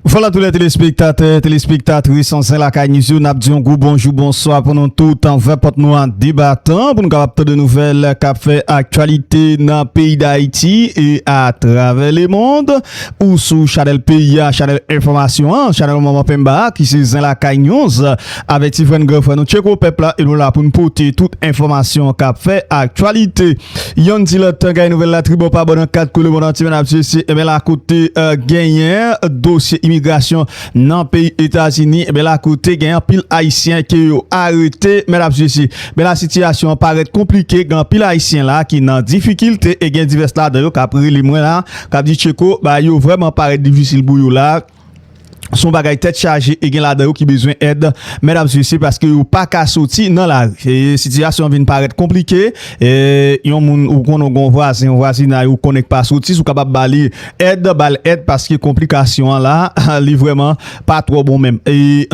Vwala tou lè telespektatè, telespektatris an zen lakay niz yo nap di yon gwo bonjou bonswa pou nou tout an vè pòt nou an debatan pou nou kapap tan de nouvèl kap fè aktyalite nan peyi dayiti e a travè le mond ou sou chanèl peyi a chanèl enfòmasyon an chanèl manman penba a ki se zen lakay niz avè ti frè n gran frè nou tcheko pèp la e nou la pou n pote tout enfòmasyon kap fè aktyalite. Yonn di lòt kay nouvèl la tribò pa bò nan 4 kwen lemond antye nap swiv si enben lakou te genyen dosye imigrasyon nan peyi etazini enben lakou te gen anpil ayisyen ke yo arete men nap swiv si enben la sitiyasyon an parèt konplike gen anpil ayisyen la ki nan difikilte e gen divès ladan yo kap rele mwen la kap di tcheko bagay yo vrèman parèt difisil pou yo la. Son bagay tèt chaje e gen ladan yo ki bezwen èd mèdam sisi paske yo pa ka soti nan lari. Sitiyasyon an vin parèt konplike. Yon moun ou konnen ou gon vwazen, yon vwazinay ou konnen k pa soti, si w kapab ba li èd, ba l èd paske konplikasyon an la, li vrèman pa twò bon menm.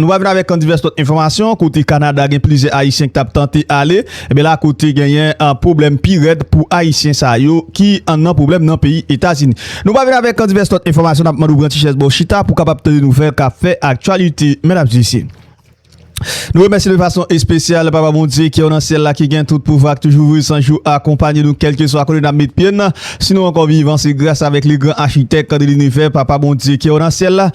Nou va vin avèk divès lòt enfòmasyon kote Kanada gen plizyè Ayisyen k t ap tante ale. Ebyen la kote genyen pwoblèm pi rèd pou ayisyen sa yo ki nan pwoblèm nan peyi etazini. Nou pral vin avèk divès lòt enfòmasyon nap mande w pran ti chèz ba w chita pou w kapab tande nouvèl kap fè aktyalite medam e mesye. Nou remèsye de fason espesyal papa Bondye ki nan syèl la ki gen tout pouvwa ki toujou vre san jou akonpanye nou kèlkeswa kote nap met pye n si nou ankò vivan se gras avèk le gran achitèk de linivè papa Bondye ki nan syèl la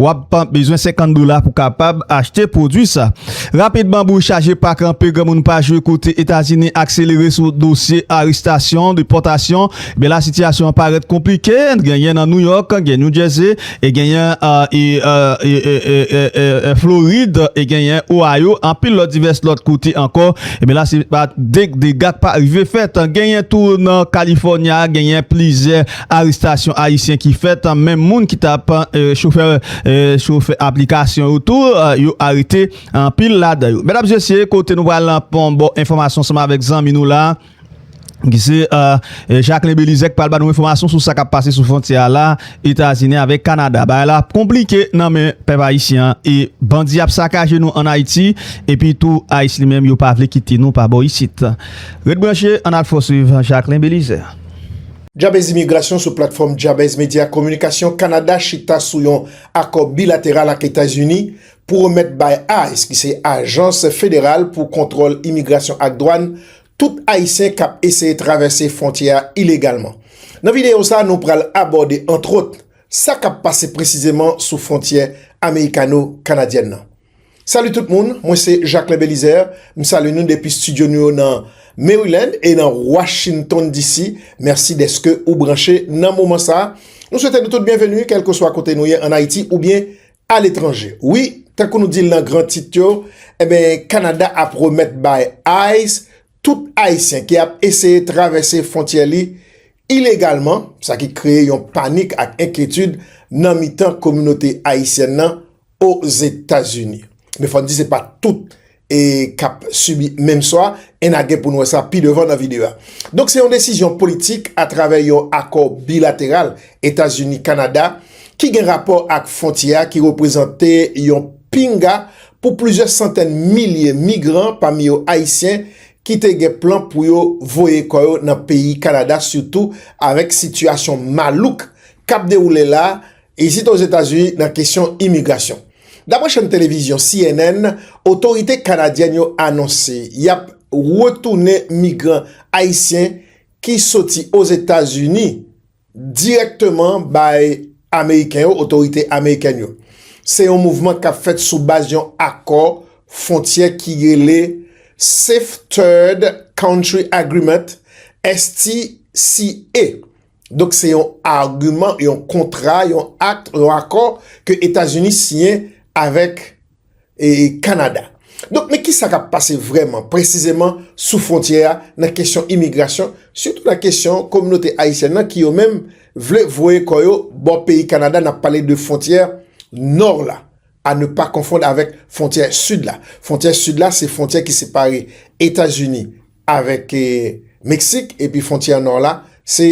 Wap bezwen 50 dola pou kapab achte pwodwi sa. Rapid Bambou chaje pa kanpe granmoun pa jwe kote Etazini akselere sou dosye arestasyon, depòtasyon, ebyen la sitiyasyon an parèt konplike, genyen nan New York, gen New Jersey, e genyen Florid, e genyen Ohio, anpil lòt divès lòt kote ankò, ebyen la se pa de dega k pa rive fèt, genyen tou nan California, genyen plizyè. arestasyon ayisyen ki fèt, menm moun ki tap chofè chofè aplikasyon yo tou yo arete anpil ladan yo. Medam zesye kote nou pral lan pon bon enfòmasyon seman avèk zanmi nou la ki se Jacquelin Belizaire ki pral ba nou enfòmasyon sou sa kap pase sou fontyè a la Etazini avèk Kanada. Bagay la ap konplike nan men pèp ayisyen an e bandi ap sakaje nou an Ayiti epi tou ice li menm yo pa vle kite nou pa bò isit. Ret branche an al fò swiv Jacquelin Belizaire. Jabez Imigrasyon sou platfòm Jabez Media Kominikasyon Kanada chita sou yon akò bilateral ak Etazini pou remèt bay ice, ki se ajans federal pou kontwòl imigrasyon ak dwàn, tout Ayisyen kap eseye travèse fwontyè a ilegalman. Nan videyo sa nou pral abòde antwòt, sa kap pase presizeman sou fwontyè amerikano-kanadyèn nan. Salut tout moun, mwen se Jacquelin Belizaire, m salye nou depi studio nou yo nan Maryland e nan Washington DC. Mèsi deske ou branche nan moman sa. Nou swete nou tout byenveni kelkeswa kote nou ye an Ayiti oubyen a letranje. Wi, tankou nou di l nan gran tit yo, enben Kanada ap remèt bay ice tout Ayisyen ki ap eseye travèse fwontyè li ilegalman, sa ki kreye yon panik ak enkyetid nan mitan kominote ayisyèn nan Ozetazini. Men fòn di se pa tout e kap sibi menm sò a, e na gen pou n wè sa pi devan nan videyo a. Donk se yon desizyon politik a travè yon akò bilateral Etazini Kanada ki gen rapò ak fwontyè a ki reprezante yon pinga pou plizyè santèn milye migran pami yo Ayisyen ki te gen plan pou yo voye kò yo nan peyi Kanada sitou avèk sitiyasyon malouk kap dewoule la Isit Ozetazini nan kesyon imigrasyon. Dapre chèn televizyon cnn, otorite kanadyèn yo anonse y ap retounen migran ayisyen ki soti Ozetazini dirèkteman bay ameriken yo, otorite amerikèn yo. Se yon mouvman k ap fèt sou baz yon akò fwontyè ki rele Safe Third Country Agreement, STCA. Donk se yon agiman, yon kontra, yon akt, yon akò ke Etazini siyen avèk Kanada. Donk men ki sa kap pase vrèman, presizeman sou fwontyè a nan kesyon imigrasyon, sitou nan kesyon kominote ayisyèn nan ki yo menm vle voye kò yo bò peyi Kanada, nap pale de fwontyè nò la, a ne pa konfond avèk fwontyè sid la. Fwontyè sid la se fwontyè ki separe Etazini. avèk Meksik epi fontyè nò la se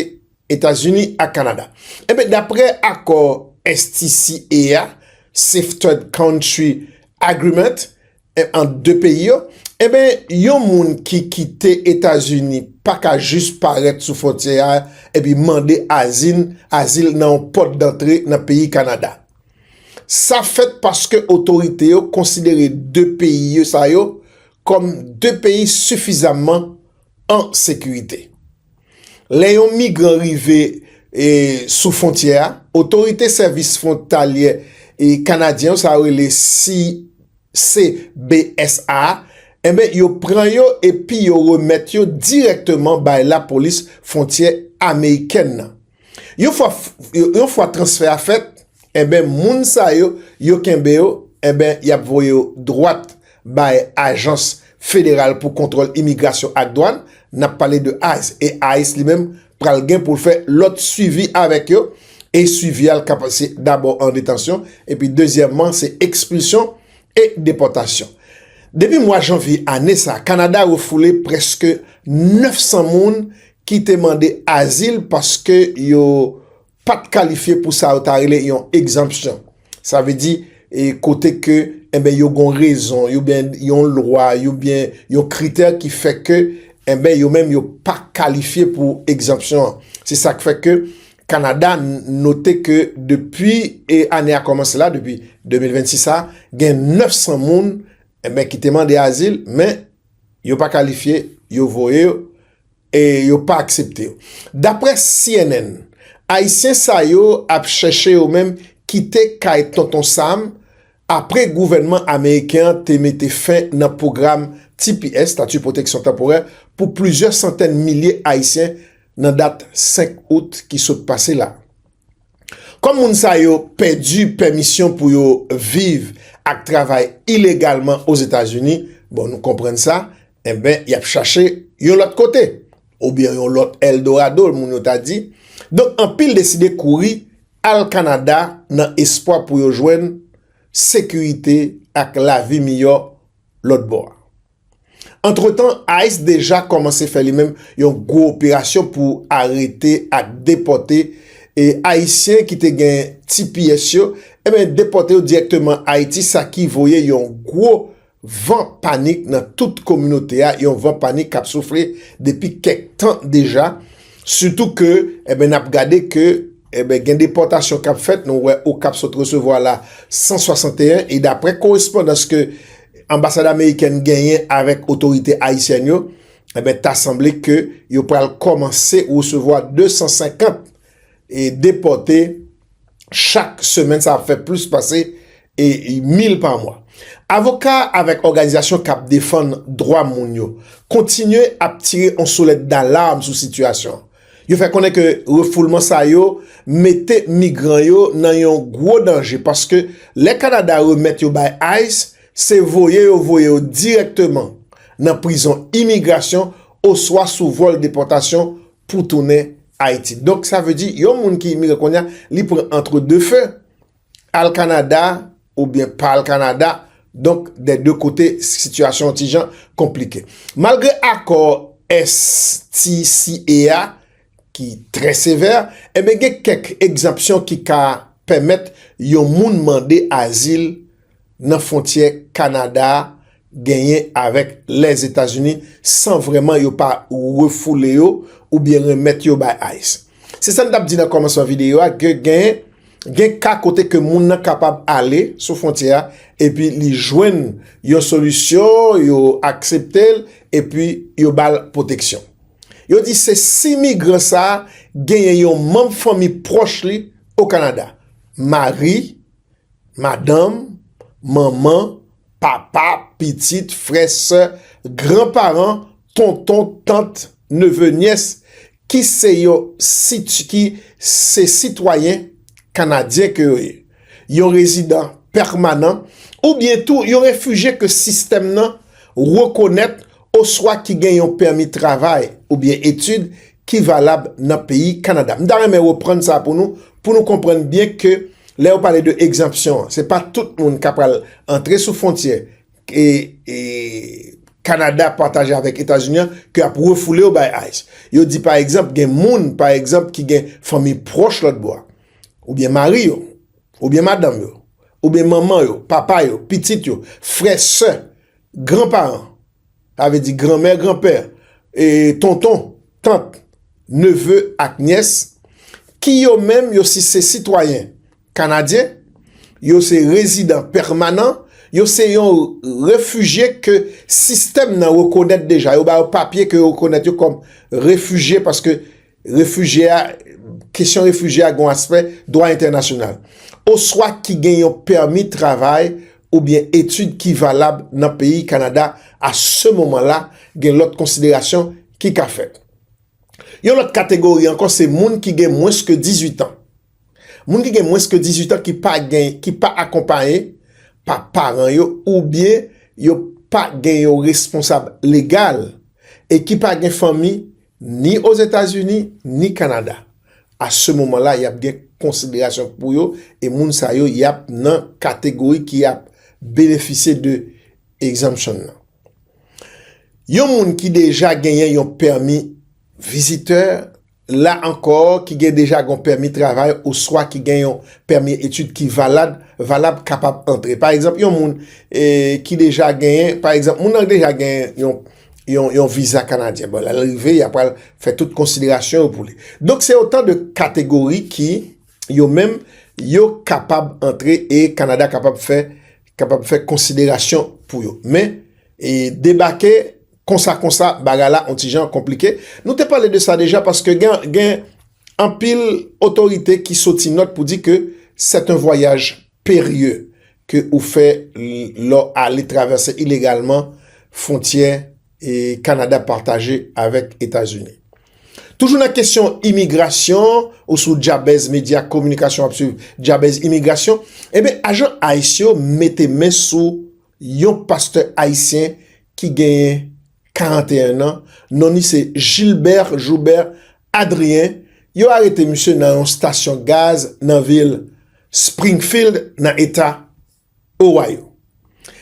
Etazini ak Kanada. Enben daprè akò STCA a, Safe Third Country Agreement, ant 2 peyi yo, enben yon moun ki kite Etazini pa ka jis parèt sou fontyè a epi mande azil nan yon pòt dantre nan peyi Kanada. Sa fèt paske otorite yo konsidere 2 peyi sa yo kòm de peyi sifizamman an sekirite. Lè yon migran rive sou fwontyè a, otorite sèvis fwontalyè kanadyen yo, sa yo rele CBSA, enben yo pran yo epi yo remèt yo dirèkteman bay lapolis fwontyè amerikèn nan. Yon fwa transfè a fèt, enben moun sa yo, yo kenbe yo, enben y ap voye yo dwat bay ajans federal pou kontwòl imigrasyon ak dwàn, n ap pale de ice, e ice li menm pral gen pou l fè lòt swivi avèk yo, e swivi a l ka pase dabò an detansyon, epi dezyèmman se ekspilsyon e depòtasyon. Depi mwa janvye ane sa, Kanada refoule prèske 900 moun ki te mande azil paske yo pa t kalifye pou sa yo ta rele yon egzanpsyon. Sa vle di, kote ke, enben, yo gon rezon, yo byen yon lwa, yo byen yon kritè ki fè ke, enben, yo menm yo pa kalifye pou egzanpsyon an. Se sa k fè ke Kanada note ke depi e ane a kòmanse la, depi 2026 sa, gen 900 moun, enben, ki te mande azil, men, yo pa kalifye, yo voye yo. E yo pa aksepte yo. Daprè cnn, Ayisyen sa yo ap chèche yo menm kite kay Tonton Sam apre gouvènman ameriken an te mete fen nan pwogram tps, Statut Protection Temporaire, pou plizyè santèn milye Ayisyen nan dat 5 out ki sot pase la. Kòm moun sa yo pèdi pèmisyon pou yo viv ak travay ilegalman Ozetazini, bon nou konprann sa, Enben, y ap chache yon lòt kote. Oubyen yon lòt El Dorado, moun yo ta di. Donk, anpil deside kouri al Kanada nan espwa pou yo jwenn sekirite ak lavi miyò lòt bò a. Antretan, ice deja kòmanse fè li menm yon gwo operasyon pou arete ak depòte e Ayisyen ki te gen tps yo, enben depòte yo dirèkteman Ayiti, sa ki voye yon gwo Van panik nan tout kominote a, yon van panik k ap soufle depi kèk tan deja, sitou ke n ap gade ke gen depòtasyon k ap fèt, nou wè Okap sot resevwa la 161, e daprè korespondans ke anbasad amerikèn genyen avèk otorite ayisyèn yo, ta sanble ke yo pral kòmanse resevwa 250. e depòte chak semèn sa ap fè plis pase e 1000 pa mwa. Avoka avèk òganizasyon kap defann dwa moun yo kontinye ap tire on soulèt dalarm sou sitiyasyon. Yo fè konnen ke refoulman sa yo mete migran yo nan yon gwo danje paske lè Kanada remèt yo bay ice se voye yo voye yo dirèkteman nan prizon imigrasyon oswa sou vòl depòtasyon pou tounen Ayiti. Donk sa vle di yon moun ki imigran kounye a, li pran antre de feu, al Kanada oubyen pa al Kanada, donk dè de kote sitiyasyon yon ti jan konplike. Malgre akò STCA a ki trè sevè, enben gen kèk egzanpsyon ki ka pèmèt yon moun mande azil nan fwontyè Kanada a genyen avèk Lèzetazini san vrèman yo pa refoule yo oubyen remèt yo bay ice. Se sa n t ap di nan kòmansman videyo a ke gen gen ka kote ke moun nan kapab ale sou fwontyè a epi li jwenn yon solisyon, yo aksepte l epi yo ba l pwoteksyon. Yo di se si migran sa a genyen yon manm fanmi pwòch li o Kanada, mari, madanm, manman, papa, pitit, frè, sè, gran paran, tonton, tant, neve, nyès, ki se yo ki se sitwayen kanadyen ke yo ye, yon rezidan pèmanan, oubyen tou yon refije ke sistèm nan rekonèt oswa ki gen yon pèmi travay oubyen etid ki valab nan peyi Kanada. M ta renmen reprann sa pou nou, pou nou konprann byen ke lè yo pale de egzanpsyon an, se pa tout moun ka pral antre sou fwontyè ke Kanada pataje avèk Etazini an ke y ap refoule yo bay ice. Yo di pa egzanp gen moun, pa egzanp ki gen fanmi pwòch lòt bò a, oubyen mari yo, oubyen madanm yo, oubyen manman yo, papa yo, pitit yo, frè, sè, Gran paran, sa vle di gran mè, gran pè, tonton, tant, neve ak nyès, ki yo menm yo si se sitwayen Kanadyen, yo se rezidan pèmanan, yo se yon refijye ke sistèm nan rekonèt deja, yo ba yo papye ke yo rekonèt yo kòm refijye paske Refijye a, kesyon refijye a gen yon aspè dwa entènasyonal. Oswa ki gen yon pèmi travay oubyen etid ki valab nan peyi Kanada a se moman la, gen lòt konsiderasyon ki ka fèt. Yon lòt kategori ankò se moun ki gen mwens ke 18 an. Moun ki gen mwens ke 18 an ki pa gen, ki pa akonpaye pa paran yo oubyen yo pa gen yon responsab legal e ki pa gen fanmi ni Ozetazini ni Kanada. A se moman la y ap gen konsiderasyon pou yo e moun sa yo y ap nan kategori ki ap benefisye de Exemption nan. Yon moun ki deja genyen yon pèmi vizitè, la ankò ki gen deja gon pèmi travay oswa ki gen yon pèmi etid ki valad, valab kapab antre. Pa egzanp, yon moun e ki deja genyen, pa egzanp, moun nan deja genyen yon, yon, yon viza kanadyen. Bon, lè l rive, y a pral fè tout konsiderasyon yo pou li. Donk, se otan de kategori ki, yo menm, yo kapab antre e Kanada kapab fè, kapab fè konsiderasyon pou yo. Men, e debake. Konsa konsa bagay la on ti jan konplike. Nou te pale de sa deja paske gen anpil otorite ki soti nòt pou di ke c'est un voyage périlleux ke ou fè lè w ale travèse ilegalman fwontyè Kanada pataje avèk Etazini. Toujou nan kesyon imigrasyon ou sou Djabèz Medya Kominikasyon wap swiv Djabèz Imigrasyon, enben ajan ice yo mete men sou yon pastè ayisyen ki genyen 41 nan, non ni se Gilbert Joubert Adrien, yo arete misye nan yon stasyon gaz nan vil Springfield nan eta Ohio.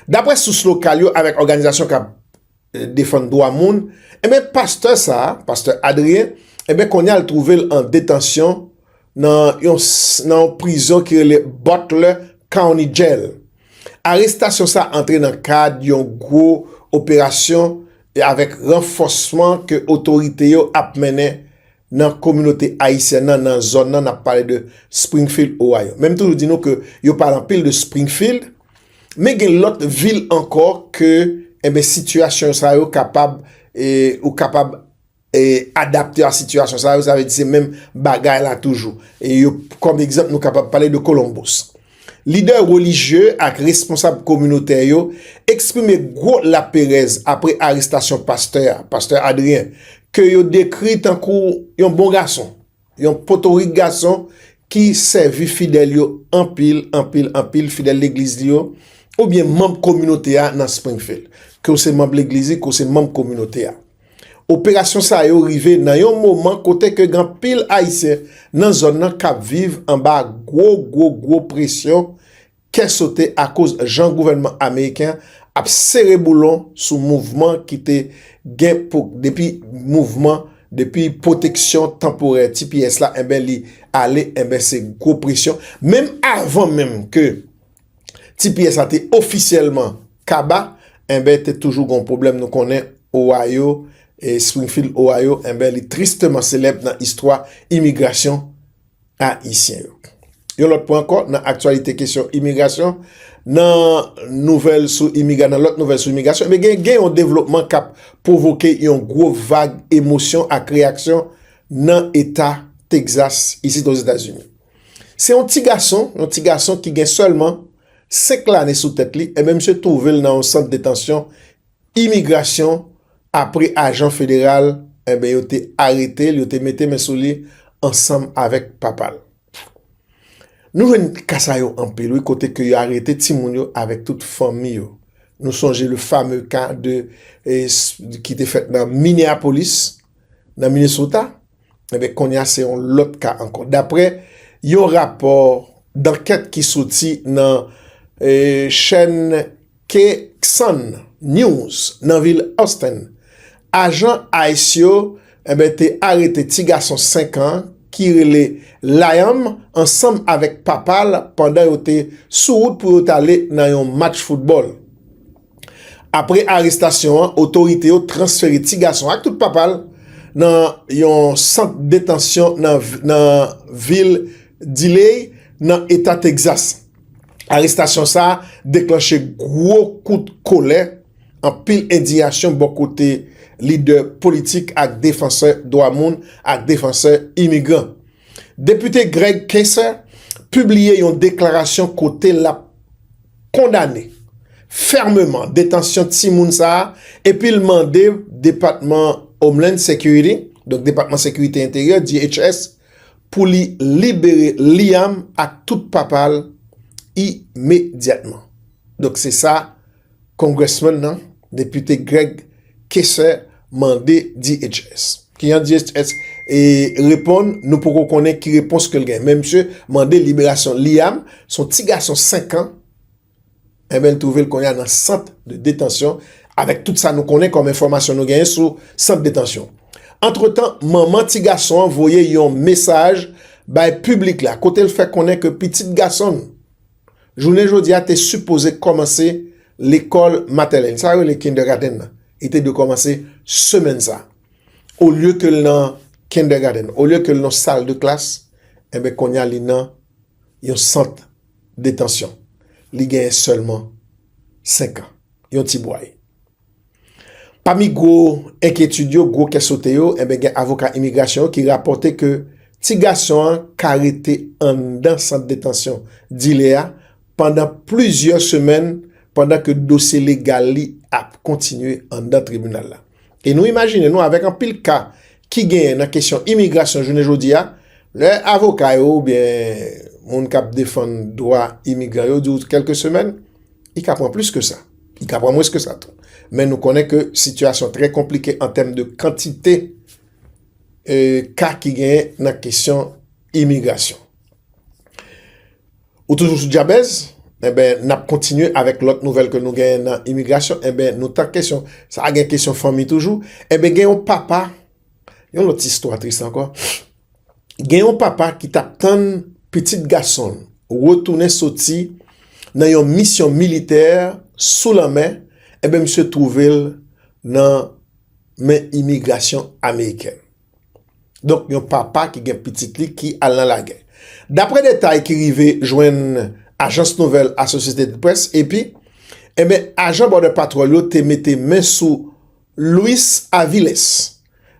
Daprè sous lokal yo avèk òganizasyon kap defann dwa moun, enben pastè sa, pastè Adrien, enben kounye a l twouve l an detansyon nan yon prizon ki rele Butler County Jail. Arestasyon sa antre nan kad yon gwo operasyon e avèk ranfòsman ke otorite yo ap mennen nan kominote ayisyèn nan nan zòn nan, n ap pale de Springfield, Ohio. Men m toujou di nou ke yo pale anpil de Springfield, men gen lòt vil ankò ke, enben, sitiyasyon sa yo kapab, e ou kapab adapte a sitiyasyon sa yo, sa vle di se menm bagay la toujou. E yo, kòm egzanp, nou kapab pale de Columbus. Lidè relijye ak responsab kominotè yo eksprime gwo laperèz apre arestasyon pastè a, pastè Adrien, ke yo dekri tankou yon bon gason. Yon potorik gason ki sèvi fidèl yo anpil, anpil, anpil, fidèl legliz li yo, oubyen manb kominote a nan Springfield. Ke w se manb legliz li, ke w se manb kominote a. Operasyon sa yo rive nan yon moman kote ke gen anpil Ayisyen nan zòn nan kap viv anba gwo, gwo, gwo presyon kè sote akoz jan gouvènman ameriken an ap sere boulon sou mouvman ki te gen pou depi mouvman depi pwoteksyon tanporè tps la enben li ale enben se gwo presyon menm avan menm ke tps la te ofisyèlman kaba enben te toujou gon pwoblèm nou konnen Ohio Springfield Ohio enben li tristeman selèb nan istwa imigrasyon ayisyen yo. Yon lòt pwen ankò nan aktyalite kesyon imigrasyon, nan nouvèl sou imiga, nan lòt nouvèl sou imigrasyon, e byen gen yon devlopman k ap pwovoke yon gwo vag emosyon ak reyaksyon nan eta Texas isit Ozetazini. Se yon ti gason, yon ti gason ki gen sèlman 5 lane sou tèt li, e byen misye twouve l nan yon sant detansyon Imigrasyon apre ajan federal enben yo te arete l, yo te mete men sou li ansanm avèk papa l. Nou jwenn ka sa yo anpil wi kote ke yo arete timoun yo avèk tout fanmi yo. Nou sonje le fameux ka de ki te fèt nan Minneapolis nan Minnesota enben kounye a se yon lòt ka ankò daprè yon rapò dankèt ki soti nan chèn KCON News nan vil Houston, ajan ice yo enben te arete ti gason 5 an ki rele Liam ansanm avèk papa l pandan yo te sou wout pou yo t ale nan yon match foutbòl. Apre arestasyon an, otorite yo transfere ti gason an ak tout papa l nan yon sant detansyon nan vil Dilley, nan eta Texas. Arestasyon sa deklanche gwo kout kolè, anpil endiyasyon bò kote lidè politik ak defansè dwa moun ak defansè imigran. Depite Greg Casar pibliye yon deklarasyon kote lap kondane fèmeman detansyon timoun sa epi l mande Depatman Homeland Security, donk Depatman Sekirite Enteryè, DHS, pou li libere Liam ak tout papa l imedyatman. Donk se sa Congressman nan, Depite Greg Casey mande DHS. Kijan DHS reponn, nou poko konnen ki repons ke l gen. Men misye mande liberasyon Liam, s on ti gason 5 an. Enben l twouve l kounye a nan sant de detansyon avèk tout sa nou konnen kòm enfòmasyon nou genyen sou sant detansyon. Antretan, manman ti gason an voye yon mesaj bay piblik la kote l fè konnen ke pitit gason l jounen jodi a te sipoze kòmanse lekòl matènèl, sa yo rele kindègadenn nan, li te dwe kòmanse semèn sa a. Olye ke l nan kindègadenn, olye ke l nan sal de klas, enben kounye a li nan yon sant detansyon. Li genyen sèlman 5 an. Yon ti bway. Pami gwo enkyetid yo, gwo kè sote yo, enben gen avoka imigrasyon yo ki rapòte ke ti gason an ka rete anndan sant detansyon Dile a pandan plizyè semèn pandan ke dosye legal li ap kontinye anndan tribinal la. E nou imajine nou avèk anpil ka ki genyen nan kesyon imigrasyon jounen jodi a, lè avoka yo oubyen moun k ap defann dwa imigran yo di w kèlke semèn, li ka pran plis ke sa, li ka pran mwens ke sa tou. Men nou konnen ke sitiyasyon trè konplike an tèm de kantite ka ki genyen nan kesyon imigrasyon. Ou toujou sou djabèz? Enben, n ap kontinye avèk lòt nouvèl ke nou genyen nan imigrasyon. Enben, nou tank kesyon sa a, gen kesyon fanmi toujou. Enben, gen yon papa, yon lòt istwa tris ankò. Gen yon papa ki t ap tann pitit gason l retounen soti nan yon misyon militè sou lanmè, enben misye twouve l nan men imigrasyon amerikèn. Donk yon papa ki gen pitit li ki al nan lagè. Dapre detay ki rive jwenn ajans nouvèl Associated Press, AP, enbyen eh ajan Border Patrol yo te mete men sou Luis Aviles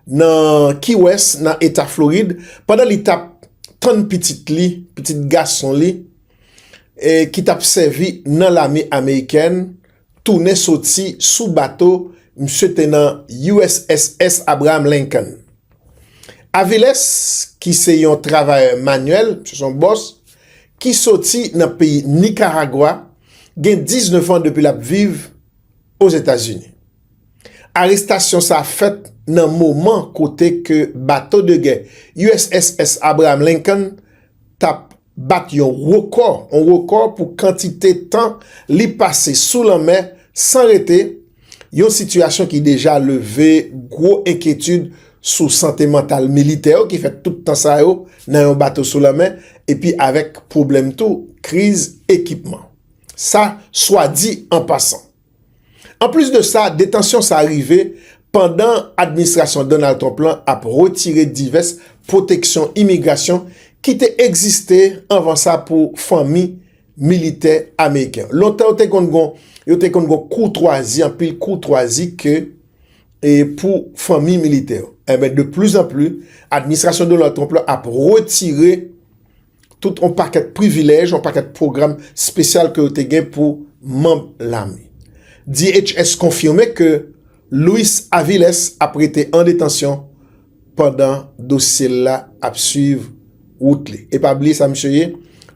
nan Key West nan eta Florid pandan li tap tann pitit li, pitit gason li, ki tap sèvi nan lame amerikèn. tounen soti sou bato misye te nan USSS Abraham Lincoln. Aviles ki se yon travayè manyèl, misye son bòs, ki soti nan peyi Nikaragwa, gen 19 an depi l ap viv Ozetazini. Arestasyon sa fèt nan moman kote ke bato de gè USSS Abraham Lincoln t ap. bat yon rekò, yon rekò pou kantite tan li pase sou lanmè san rete, yon sitiyasyon ki deja leve gwo enkyetid sou sante mantal militè yo ki fè tout tan sa yo nan yon bato sou lanmè epi avèk pwoblèm tou kriz ekipman. Sa swa di an pasan. Anplis de sa, detansyon sa rive pandan administrasyon Donald Trump lan ap retire divès pwoteksyon imigrasyon ki te egziste anvan sa pou fanmi militè ameriken. Lontan yo te konn gon yo te konn gon koutwazi, anpil koutwazi ke e pou fanmi militè yo. Enben, de pli zan pli, administrasyon Donald Trump lan ap retire. tout yon pakèt privilèj, yon pakèt pwogram spesyal ke yo te gen pou manb lame. DHS konfime ke Luis Aviles ap rete an detansyon pandan dosye l la ap swiv wout li. E pa bliye sa misye ye,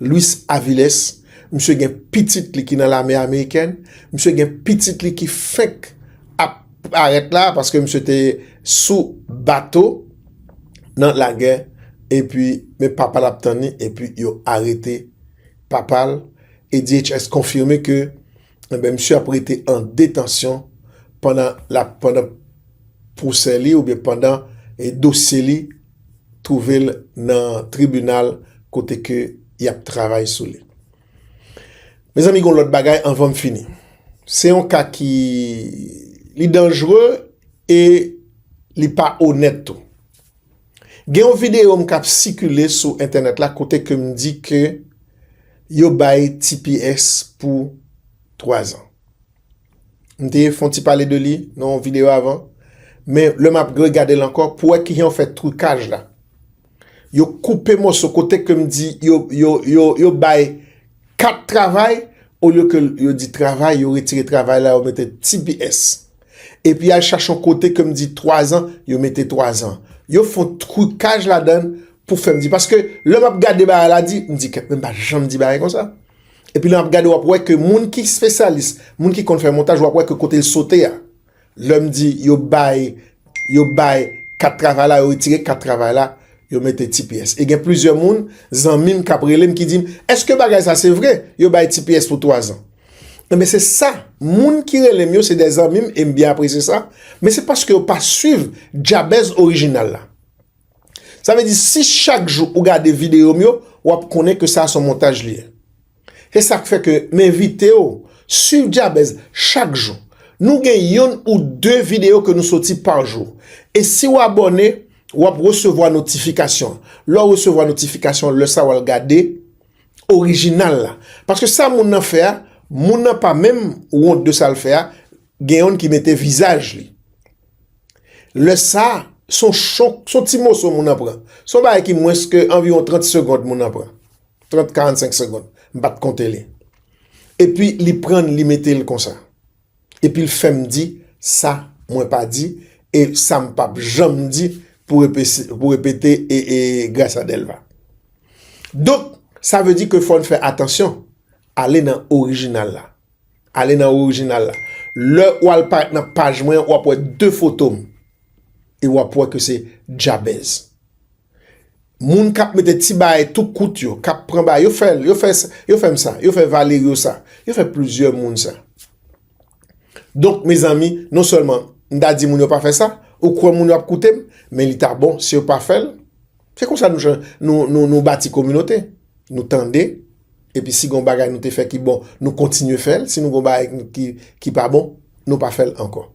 Luis Aviles, misye gen pitit li ki nan lame amerikèn, misye gen pitit li ki fenk ap parèt la, paske misye te sou bato, nan lagè epi men papal ap tann li epi yo arete papal e DHS konfime ke enben misye ap rete an detansyon pandan lap pandan pwosè li oubyen pandan dosye li twouvel nan tribinal kote ke yap travay sou li. Mezanmi gon lòt bagay anvan m fini. Se yon ka ki li danjre e li pa onèt tou. Gen yon videyo m kap sikile sou entènèt la kote ke m di ke yo bay tps pou 3 an. M te fon ti pale de li nan yon videyo avan, men lè m ap gregade l ankò pou wè kijan yo fè trikaj la. yo koupe mòso kote ke m di yo bay 4 travay olye ke yo di travay yo retire travay la yo mete tps epi al chache yon kote ke m di 3 an yo mete 3 an yo fon trikaj la dan pou fè m di paske lè m ap gade bagay la di m di kèt men m pa janm di bagay konsa epi lè m ap gade w ap wè ke moun ki spesyalis moun ki konn fè montaj w ap wè ke kote l sote a. Lè m di yo bay, yo bay kat travay la, yo retire kat travay la, yo mete tps. E gen plizyè moun, zanmi m k ap rele m ki di m, èske bagay sa se vre, yo bay tps pou twazan? Enben se sa, moun ki rele m yo se de zanmi m e m byen apresye sa, men se paske yo pa swiv djabèz orijinal la. Sa vle di si chak jou ou gade videyo m yo, w ap konnen ke sa son montaj li ye. Se sak fè ke m envite w swiv Dyabèz chak jou. Nou gen youn ou de videyo ke nou soti par jou. E si w abòne, w ap resevwa notifikasyon. Lè w resevwa notifikasyon, lè sa w al gade orijinal la. Paske sa moun nan fè a, moun nan pa menm wont de sa l fè a, gen youn ki mete vizaj li. Lè sa, son chonk, son ti moso moun nan pran. Son bagay ki mwens ke anviwon 30 segond moun nan pran. 30 45 segond m pat konte li epi li prann li mete l konsa epi l fèm di sa mwen pa di e sa m pap janm di pou repete e e Gracia Delva donk sa vle di ke fòn fè atansyon ale nan orijinal la ale nan orijinal la lè w al parèt nan paj mwen wap wè 2 foto m e wap wè ke se djabèz. Moun kap mete ti baay tou kout yo, kap pran baay, yo fèl, yo fè, yo fèm sa, yo fè Valerio sa, yo fè plizyè moun sa. Donk mezanmi, non sèlman m ta di moun yo pa fè sa, ou kwè moun yo ap koute m, men li ta bon si yo pa fèl. Se konsa nou bati kominote. Nou tande, Epi si gon bagay nou te fè ki bon, nou kontinye fè l. Si nou gon bagay ki pa bon, nou pa fè l ankò.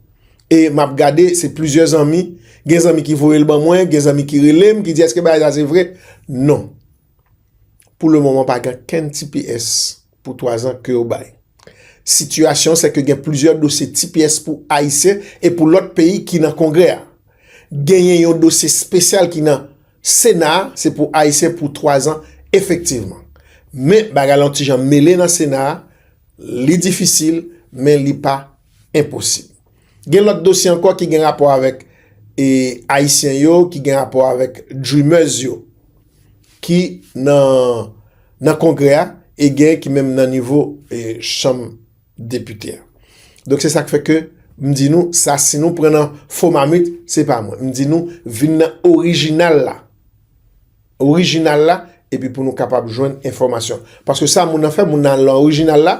E m ap gade, se plizyè zanmi, gen zanmi ki voye l ban mwen, gen zanmi ki rele m, ki di èske bagay sa se vre? Non. Pou le moman pa gen kenn tps pou 3 zan ke yo bay. Sitiyasyon se ke gen plizyè dosye tps pou Ayisyen e pou lòt peyi ki nan Kongrè a. Genyen yon dosye spesyal ki nan Sena a se pou Ayisyen pou 3 zan efektivman. Men bagay la yon ti jan mele nan Sena a, li difisil men li pa enposib. Gen lòt dosye ankò ki gen rapò avèk e Ayisyen yo, ki gen rapò avèk Dreamers yo ki nan nan Kongrè a e gen ki menm nan nivo e chanm depite a. Donk se sa k fè ke m di nou sa si nou pran nan fo mamit se pa mwen. M di nou vin nan orijinal la. Orijinal la epi pou nou kapab jwenn enfòmasyon. Paske sa moun nan fè moun nan al nan orijinal la,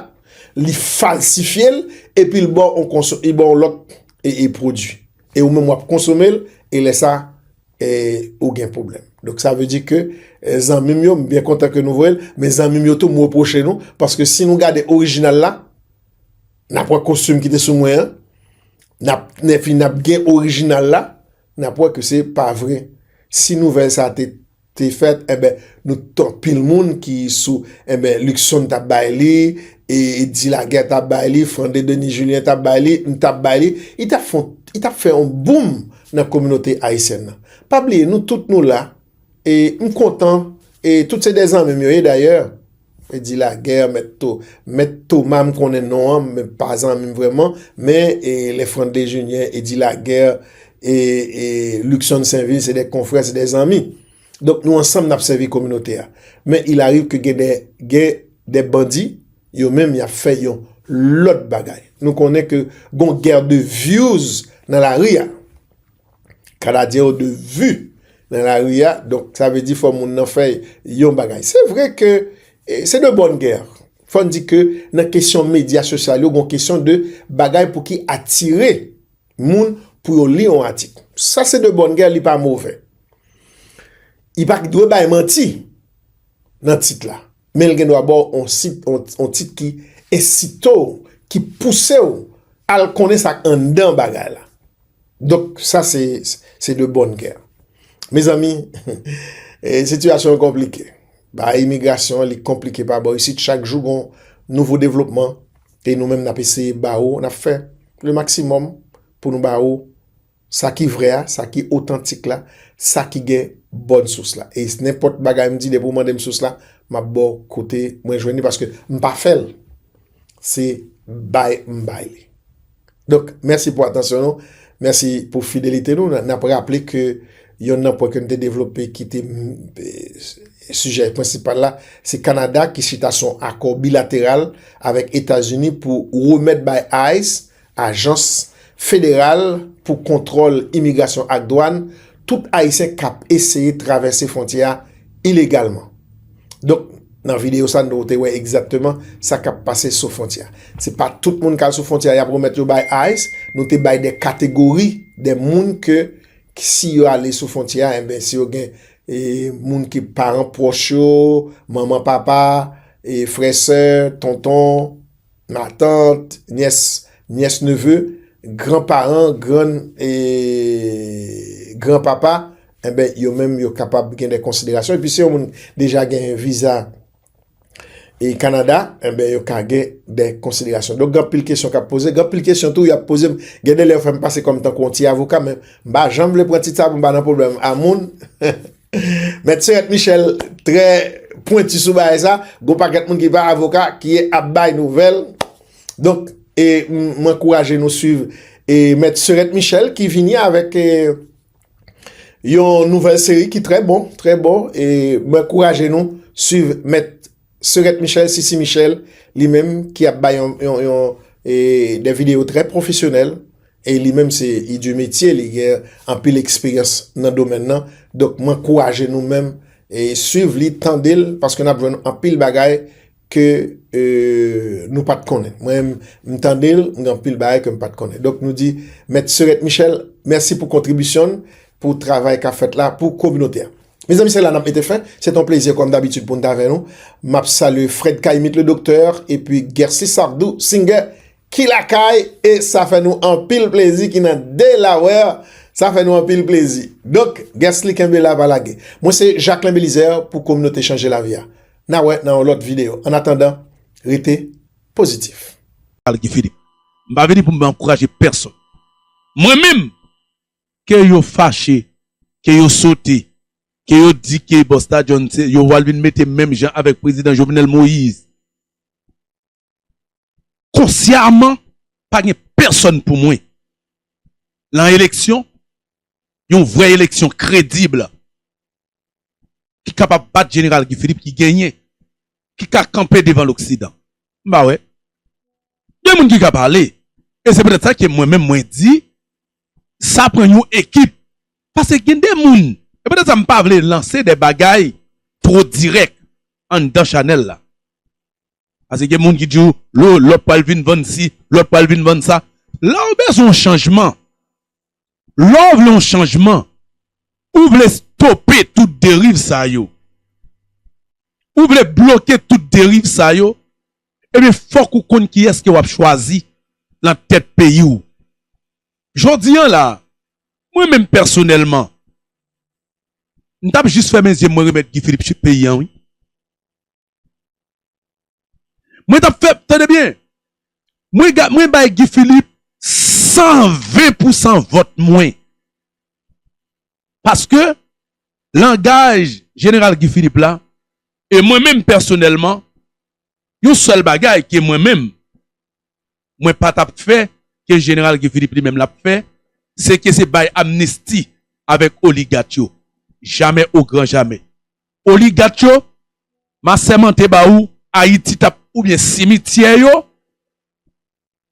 li falsifye l epi l ba w yon lòt pwodui. E ou menm w ap konsome l e lè sa. e ou gen pwoblèm. Donk sa vle di ke zanmi m yo, m byen kontan ke nou voye l, men zanmi m yo tou m repwoche nou, paske si nou gade orijinal la, n ap wè kostim ki te sou mwen an, n ap ne fini n ap gen orijinal la, n ap wè ke se pa vre. Si nouvèl sa te fèt, enben nou tout anpil moun ki sou, enben Luckson t ap bay li, e Di Lagè t ap bay li, Frande Denis Julien t ap bay li, m t ap bay li, li t ap fè yon boom. nan kominote ayisyèn nan pa bliye nou tout nou la e m kontan e tout se de zanmi m yo ye dayè e di lagè mèt to mèt toma m konnen non an men pa zanmi m vrèman men e lefrann dejenyen e di lagè e e likson senvil se de konfrè se de zanmi donk nou ansanm n ap sèvi kominote a men il ariv ke gen de gen de bandi Yo menm yap fè yon lòt bagay. Nou konnen ke gon guerre de views nan lari a. Kanadyen yo de vue nan lari a, donk sa vle di fò moun nan fè yon bagay. Se vre ke se de bonne guerre. Fòn di ke nan kesyon medya sosyal yo gon kesyon de bagay pou ki atire moun pou yo li yon atik. Sa se de bonne guerre, li pa movè. Li pa dwe bay manti nan tit la. men l gen dwa ba w yon tit ki ensite w, ki pouse w al konnen sa k anndan bagay la. Donk, sa se de bon kè. Mezanmi, sitiyasyon an konplike. Bagay imigrasyon an li konplike pa bò isit. Chak jou gen yon nouvo devlopman e nou menm n ap eseye ba ou, n ap fè le maksimòm pou nou ba ou Sa ki vrè a, sa ki otantik la, sa ki gen bòn sous la. E nenpòt bagay m di depi ou mande m sous la, m ap ba w kote mwen jwenn li paske m pa fè l. Se bay m bay li. Donk, mèsi pou atansyon nou, mèsi pou fidelite nou. N ap raple ke yonn nan pwen ke n te devlope ki te sijè prensipal la, se Kanada ki chita sou akò bilateral avèk Etazini pou remèt bay ice Ajans Federal pou Kontwòl Imigrasyon ak Dwàn, tout Ayisyen k ap eseye travèse fwontyè a ilegalman. Donk, nan videyo sa nou te wè egzatteman sa k ap pase sou fwontyè a. Se pa tout moun k al sou fwontyè a y ap remèt yo bay ice. Nou te bay de kategori de moun ke si yo ale sou fwontyè a, enben si yo gen moun ki paran pwòch yo, manman papa, frè sè, tonton, Matant, nyès, nyès neveu, gran paran, grann e gran papa enben yo menm yo kapab gen de konsiderasyon epi se yon moun deja gen viza e Kanada enben yo ka gen de konsiderasyon. Donk gen anpil kesyon kap poze, gen anpil kesyon tou yap poze m, gen de lè yo fè m pase kòm tankou yon ti avoka men m pa janm vle pran tit sa pou m pa nan pwoblèm a moun. Mèt Serette Michel trè pwenti sou bagay sa, gon pakèt moun ki pa avoka ki ap bay nouvèl. Donk, e m ankouraje nou swiv e mèt Serette Michel ki vini avèk e yon nouvèl seri ki trè bon, trè bon e m ankouraje nou swiv mèt Seuret Michel, Sisi Michel, li menm ki ap bay yon des videos très professionnelles e li menm se li de metye li gen anpil eksperyans nan domèn nan donk m ankouraje nou menm swiv li tande l paske n ap jwenn anpil bagay ke nou pa t konnen mwen menm m tande l m gen anpil bagay ke m pa t konnen donk nou di mèt Seuret Michel mèsi pou kontribisyon l pou travay k ap fèt la pou kominote a. Mezanmi se la nap mete fen, se ton plezi kòm dabitid pou n t avè nou. Map salye Fred Kaymit le Docteur epi Gersi Sardou Singer ki lakay e sa fè nou anpil plezi ki nan Delaware, sa fè nou anpil plezi. Donk Gersli kenbe la pa lage. Mwen se Jacquelin Belizaire pou kominote chanje lavi a. Na wè nan yon lòt videyo. An atandan, rete pozitif. Pale Guy Philippe. M pa vini pou m ankouraje pèsonn. Mwen menm! ke yo fache, ke yo sote, ke yo di ke Busta John se yo pwal vin mete menm jan avèk Prezidan Jovenel Moise. Konsyaman, pa gen pèsòn pou mwen lan eleksyon, yon vrè eleksyon kredib, ki kapab bat jeneral Guy Philippe ki genyen, ki ka kanpe devan loksidan? M pa wè. Gen moun ki ka pale e se petèt sa ke mwen menm mwen di sa pran yon ekip paske gen de moun e petèt sa m pa vle lanse de bagay two dirèk anndan chanèl la paske gen moun ki di w lo lòt pral vin vann si lòt pral vin vann sa. Lè w bezwen yon chanjman Lè w vle yon chanjman, ou vle stope tout deriv sa yo, ou vle bloke tout deriv sa yo, ebyen fòk ou konn kiyès ke w ap chwazi nan tèt peyi w. Jodi an la, mwen menm pèsonèlman, m t ap jis fèmen zye m mwen remèt Guy Philippe chit peyi an wi. Mwen tap fè, tande byen, mwen bay Guy Philippe 120 pou 100 vòt mwen. Paske langaj Jeneral Guy Philippe la, e mwen menm pèsonèlman, yon sèl bagay ke mwen menm, mwen pa tap fè ke Jeneral Guy Philippe li menm lap fè, se ke se bay amnisti avèk oligat yo. Jamè o gran jamè. Oligat yo, ma sèmante ba ou, Ayiti tap oubyen simityè yo.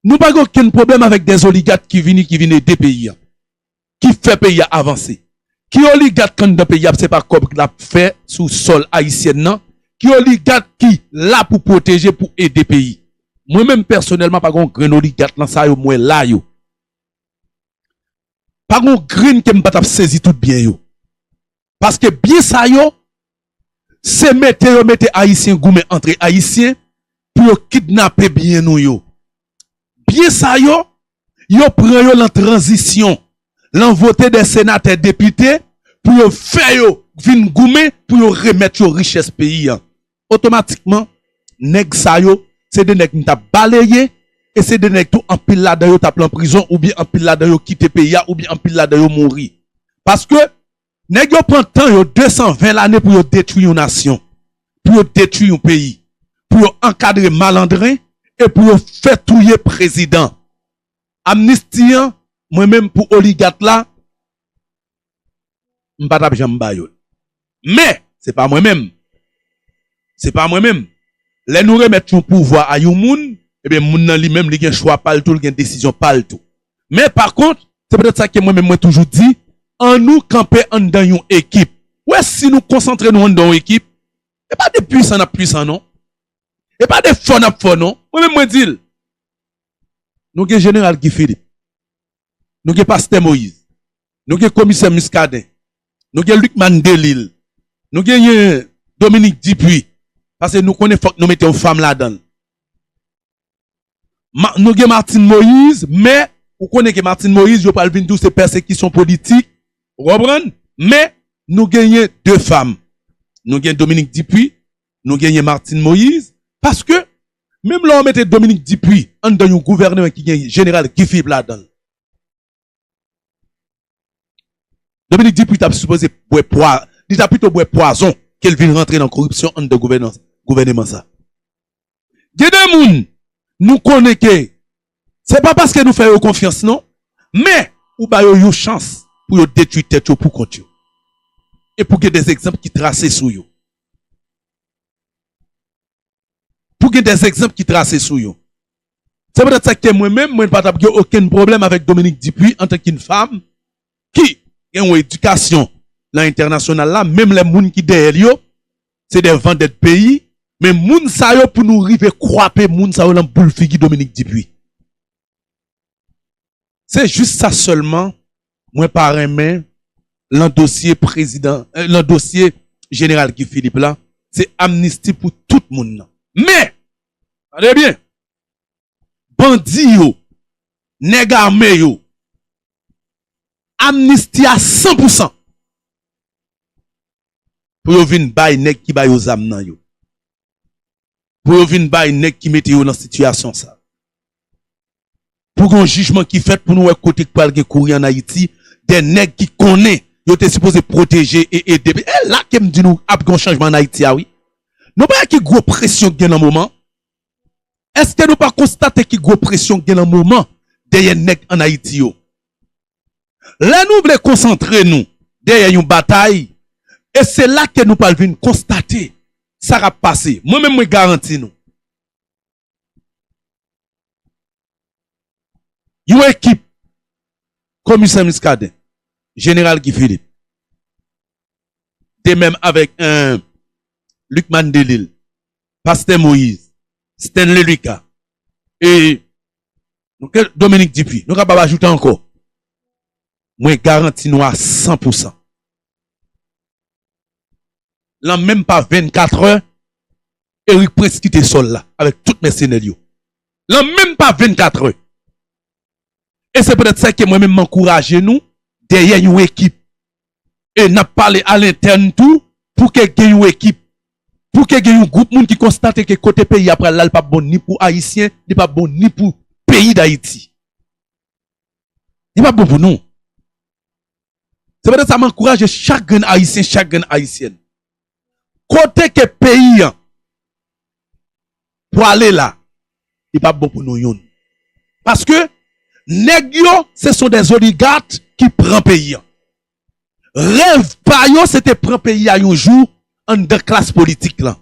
Nou pa gen okenn pwoblèm avèk dè oligat ki vini ki vin ede peyi an. ki fè peyi a avanse. Ki oligat k anndan peyi a se pa kòb k lap fè sou sòl ayisyèn nan, ki oligat ki la pou pwoteje pou ede peyi. Mwen menm pèsonèlman pa gen yon grenn oligat lan sa yo m wè la yo. Pa gen yon grenn ke m pa tap sezi tout byen yo. Paske byen sa yo se mete yo mete ayisyen goumen antre ayisyen pou yo kidnape byen nou yo. Byen sa yo, yo pran yo lan tranzisyon, lan vote de senatè depite pou yo fè yo vin goumen pou yo remèt yo richès peyi an. Otomatikman, nèg sa yo, se 2 nèg m t ap baleye e se 2 nèg tou anpil ladan yo t ap lan prizon oubyen anpil ladan yo kite peyi a oubyen anpil ladan yo mouri. Paske, nèg yo pran tan yo, 220 lane pou yo detwi yon nasyon, pou yo detwi yon peyi, pou yo ankadre malandren e pou yo fè touye prezidan. Amnisti an, mwen menm pou oligat la, m pa t ap janm ba yo l. Men, se pa mwen menm. Se pa mwen menm. Lè nou remèt yon pouvwa a yon moun, enben, moun nan li menm, li gen chwa pa l tou, li gen desizyon pa l tou. Men, pakont, se poutèt sa ke mwen menm mwen toujou di, annou kanpe anndan yon ekip. Ou wè, si nou konsantre nou anndan yon ekip, e pa de pwisan n ap pwisan non. E pa de fò n ap fò non. Mwen menm mwen di l, nou gen Jeneral Guy Philippe, nou gen pastè Moïse, nou gen komisè Muscadin, nou gen Lucmane Delille, nou genyen Dominique Dupuy, pase nou konnen fòk nou mete yon fanm ladann. Nou gen Martine Moïse, men ou konnen ke Martine Moïse yo pral vin di w se pèsekisyon politik, ou konprann? Men nou genyen 2 fanm, nou gen Dominique Dupuy, Nou genyen Martine Moise paske menm lè w mete Dominique Dupuy anndan yon gouvèneman ki gen jeneral Guy Philippe ladan l, Dominique Dupuy t ap sipoze bwè pwa, li ta pito bwè pwazon ke l vin rantre nan koripsyon anndan gouvèneman sa. Gen de moun nou konnen ke se pa paske nou fè yo konfyans non men ou ba yo yon chans pou yo detwi tèt yo pou kont yo. E pou gen de egzanp ki trase sou yo. Pou gen des egzanp ki trase sou yo. Se poutèt sa ke mwen menm, mwen pa tap gen okenn pwoblèm avèk Dominique Dupuy antan ke yn fam ki gen yon edikasyon nan entènasyonal la, menm lè moun ki dèyè l yo se dè vandèt peyi, men moun sa yo pou nou rive kwape moun sa yo lan boul figi Dominique Dupuy. Se jis sa sèlman mwen pa renmen lan dosye prezidan, lan dosye Jeneral Guy Philippe la, se amnisti pou tout moun nan. Men! Tande byen! Bandi yo, nèg ame yo, amnisti a san pou san pou yo vin bay nèg ki ba yo zam nan yo. pou yo vin bay nèg ki mete yo nan sitiyasyon sa. Pou gen yon jijman ki fèt pou nou wè kote ki pral gen kouri an Ayiti de nèg ki konnen yo te sipoze pwoteje e ede. E la ke m di nou ap gen yon chanjman an Ayiti a wi. Nou pa wè ki gwo presyon ki gen nan moman? Eske nou pa konstate ki gwo presyon ki gen nan moman dèyè nèg an Ayiti yo? Lè nou vle konsantre nou dèyè yon batay, e se la ke nou pral vin konstate sa kap pase. Mwen menm mwen garanti nou, yon ekip Komisè Muscadin, Jeneral Guy Philippe, de mèm avèk Lucmane Delille, Pastè Moïse, Stanley Lucas, e Ke Dominique Dupuy, nou kapab ajoute ankò, mwen garanti nou a san pou san, lan menm pa vennkatrè, Erik Prince kite sòl la avèk tout mèsenè l yo. Lan menm pa vennkatrè. E se petèt sa ke mwen menm m ankouraje nou dèyè yon ekip. e n ap pale alentèn tou pou ke gen yon ekip, pou ke gen yon gwoup moun ki konstate ke kote peyi a pral la li p ap bon ni pou Ayisyen, li p ap bon ni pou peyi Dayiti. Li p ap bon pou nou. Se poutèt sa m ankouraje chak grenn Ayisyen, chak grenn Ayisyèn Kote ke peyi an pwale la, li pap bon pou nou youn. Paske nèg yo se son des oligat ki pran peyi an. Rèv pa yo se te pran peyi a yon jou anndan klas politik lan.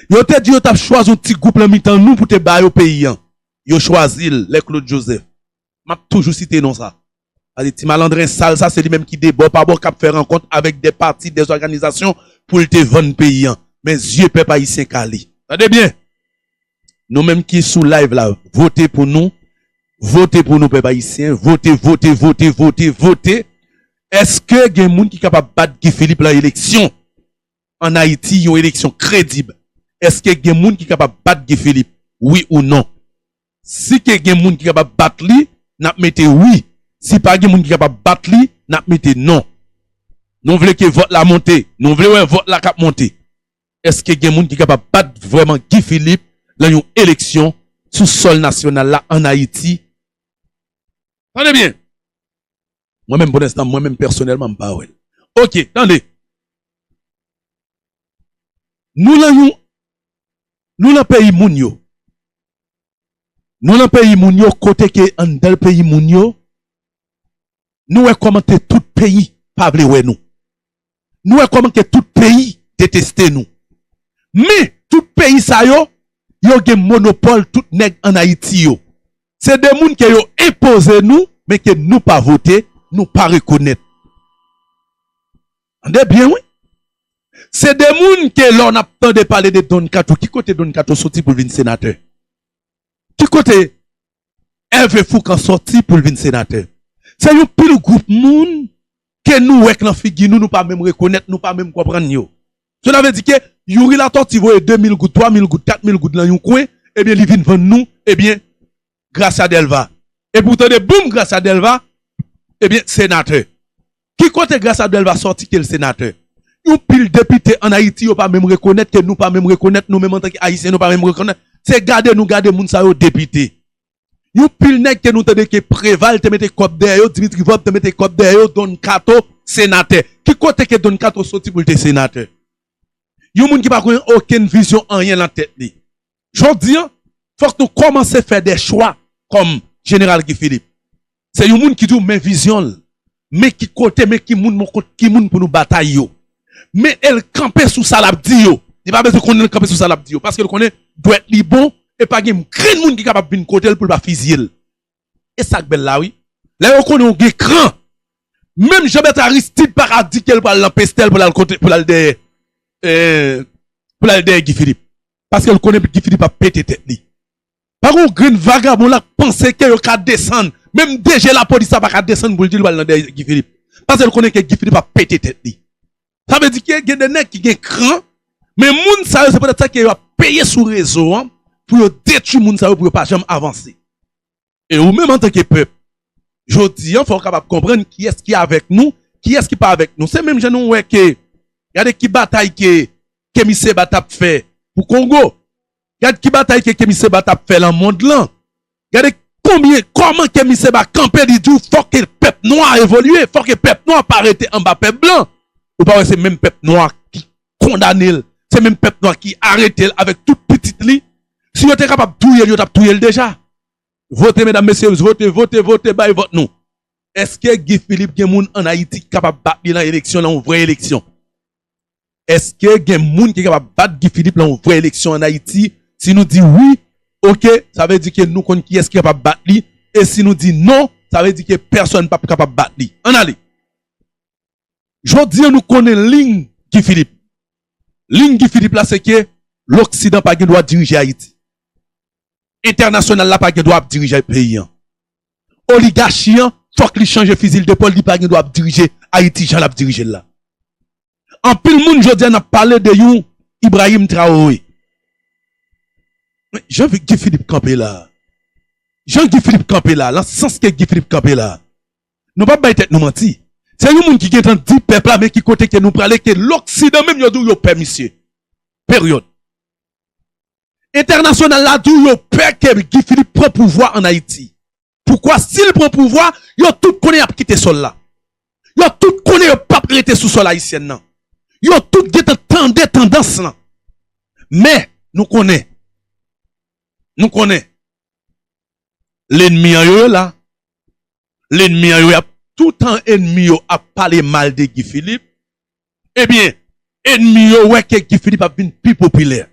Yo te di yo tap chwazi yon ti gwoup lan mitan nou pou te ba yo peyi an. Yo chwazi l lè Claude Joseph. Map toujou site non sa. Paske ti malandren sal sa se li menm ki de bò pa bò kap fè rankont avèk dè pati, dè òganizasyon poul te vann peyi an. Men zye pèp ayisyen kale. Tande byen! Nou menm ki sou live la vote pou nou, vote pou nou pèp ayisyen, vote, vote, vote, vote, vote. Eske gen moun ki kapab bat Guy Philippe lan eleksyon an Ayiti yon eleksyon kredib? Eske gen moun ki kapab bat Guy Philippe? Wi ou non? Si te gen moun ki kapab bat li, n ap mete wi. Si pa gen moun ki kapab bat li, n ap mete non. Nou vle ke vòt la monte. Nou vle wè vòt la k ap monte. Eske gen moun ki kapab bat vrèman Guy Philippe lan yon eleksyon sou sòl nasyonal la ann Ayiti? Tande byen! Mwen menm pou lenstan mwen menm pèsonèlman m pa wè l. Ok tande Nou lan yon Nou lan peyi moun yo Nou lan peyi moun yo kote ke anndan peyi moun yo Nou wè kòman ke tout peyi pa vle wè nou Nou wè kòman ke tout peyi deteste nou. Men, tout peyi sa yo, yo gen monopòl tout nèg an Ayiti yo. Se de moun ke yo enpoze nou, men ke nou pa vote, nou pa rekonèt. Tande byen wi. Se de moun ke lò n ap tande pale de Don Kato, ki kote Don Kato soti pou l vin senatè? Ki kote Hervé Fourcand sòti pou l vin senatè. Se yon pil gwoup moun ke nou wè k nan figi nou, nou pa menm rekonèt, nou pa menm konprann yo. Sela vle di ke Youri Latortue voye 2 mil goud, 3 mil goud, 4 mil goud lan yon kwen, ebyen li vin vann nou, ebyen, Gracia Delva. Epi ou tande boum Gracia Delva, ebyen, senatè. Ki kote Grace Abdelva sòti ke l senatè? Yon pil depite an Ayiti yo pa menm rekonèt, ke nou pa menm rekonèt, nou menm antan ke Ayisyen nou pa menm rekonèt. Se gade nou gade moun sa yo depite. Yon pil nèg ke nou tande ke Preval te mete kòb dèyè yo, Dimitri Vorb te mete kòb dèyè yo, Don Kato, senatè. Ki kote ke Don Kato sòti pou l te senatè? Yon moun ki pa konnen okenn vizyon anyen lan tèt li. Jodi an, fòk nou kòmanse fè de chwa kòm Jeneral Guy Philippe. Se yon moun ki di w men vizyon l, men ki kote, men ki moun, men kont ki moun pou nou batay yo. Men e l kanpe sou sa l ap di yo. Li pa bezwen konnen l kanpe sou sa l ap di yo. Paske l konnen dwèt li bon e pa gen grenn moun ki kapab vin kote l pou l pa fizye l. E sa k bèl la wi. Lè yo konnen w gen kran, menm Jean Bertrand Aristide pa ka di ke l pral nan Pestel pou l al kote, pou l al dèyè, pou l al dèyè Guy Philippe. paske l konnen Guy Philippe ap pete tèt li. Pa gen yon grenn vagabon la k panse ke yo ka desann, menm DG lapolis la pa ka desann pou l di l pral nan dèyè Guy Philippe, paske l konnen ke Guy Philippe ap pete tèt li. Sa vle di ke gen de nèg ki gen kran, men moun sa yo se petèt sa ke yo ap peye sou rezo an pou yo detwi moun sa yo pou yo pa janm avanse. E ou menm antanke pèp, jodi an fò ou kapab konprann kiyès ki avèk nou, kiyès ki pa avèk nou. Se menm jan nou wè ke, gade ki batay ke Kemi Seba t ap fè pou Kongo, gad ki batay ke Kemi Seba t ap fè lan mond lan, gade konbyen, kòman Kemi Seba kanpe li di w fò ke pèp nwa evolye, fò ke pèp nwa pa rete anba pèp blan. Ou pa wè se menm pèp nwa kondane l, se menm pèp nwa ki arete l avèk tout pitit li, si yo te kapab touye l yo tap touye l deja. Vote medam mesye vote vote vote bay vòt nou. Eske Guy Philippe gen moun an Ayiti ki kapab bat li lan eleksyon lan yon vrè eleksyon? Eske gen moun ki kapab bat Guy Philippe lan yon vrè eleksyon an Ayiti? Si nou di wi, ok, sa vle di ke nou konn kiyès ki kapab bat li, e si nou di non, sa vle di ke pèsòn pap kapab bat li. Ann ale! Jodi an nou konnen liy Guy Philippe. Liy Guy Philippe la se ke loksidan pa gen dwa dirije Ayiti. Entènasyonal la pa gen dwa ap dirije peyi an. Oligachi an fòk li chanje fizil depòl li pa gen dwa ap dirije Ayiti jan lap dirije l la. Anpil moun jodi an ap pale de yon Ibrahim Traore. Men jan Guy Philippe kanpe la, jan Guy Philippe kanpe la, lan sans ke Guy Philippe kanpe la, Nou pap bay tèt nou manti. Se yon moun ki gentan di pèp la men ki kote ke nou prale ke loksidan menm yo diw yo pè misye. Period. Entènasyonal la diw yo pè ke Guy Philippe pran pouvwa an Ayiti. Poukwa sil pran pouvwa yo tout konnen yap kite sòl la. Yo tout konnen yo pap rete sou sòl Ayisyen nan. Yo tout gentan tande tandans lan. Men nou konnen. Nou konnen. Lenmi an yo yo la. lenmi an yo yap toutan enmi yo ap pale mal de Guy Philippe ebyen enmi yo wè ke Guy Philippe ap vin pi popilè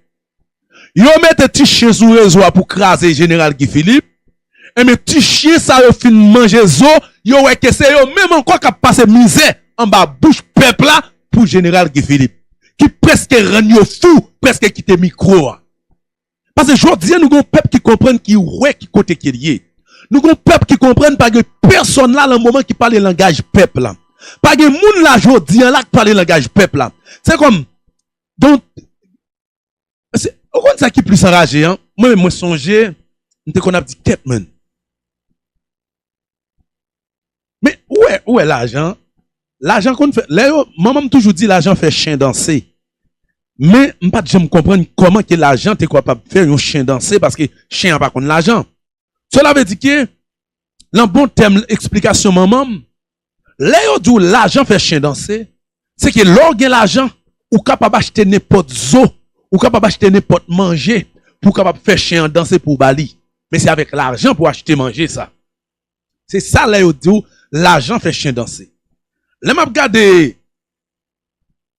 yo mete ti chyen sou rezo a pou kraze jeneral Guy Philippe ebyen ti chyen sa yo fin manje zo yo wè ke se yo menm ankò kap pase mizè anba bouch pèp la pou jeneral Guy Philippe ki preske rann yo fou preske kite mikro a. Pase jodi nou gen yon pèp ki konprann ki wè ki kote ke li ye. Nou gen yon pèp ki konprann pa gen pèsòn la lan moman ki pale langaj pèp la. Pa gen moun la jodi an la k pale langaj pèp la. Se kòm gen se ou konn sa ki plis anraje an? Mwen menm mwen sonje m te konn ap di kèt men. Men ou wè, ou wè lajan, lajan konn fè, lè yo, manman m toujou di lajan fè chen danse. Men m pa t janm konprann kòman ke lajan te kapab fè yon chen danse paske chen an pa konn lajan. Sela vle di ke lan bon tèm eksplikasyon manman m, Lè yo di w lajan fè chen danse, se ke lè w gen lajan, ou kapab achte nenpòt zo, ou kapab achte nenpòt manje pou w kapab fè chen an danse pou w ba li. Men se avèk lajan pou w achte manje sa. Se sa lè yo di w lajan fè chen danse. Lè m ap gade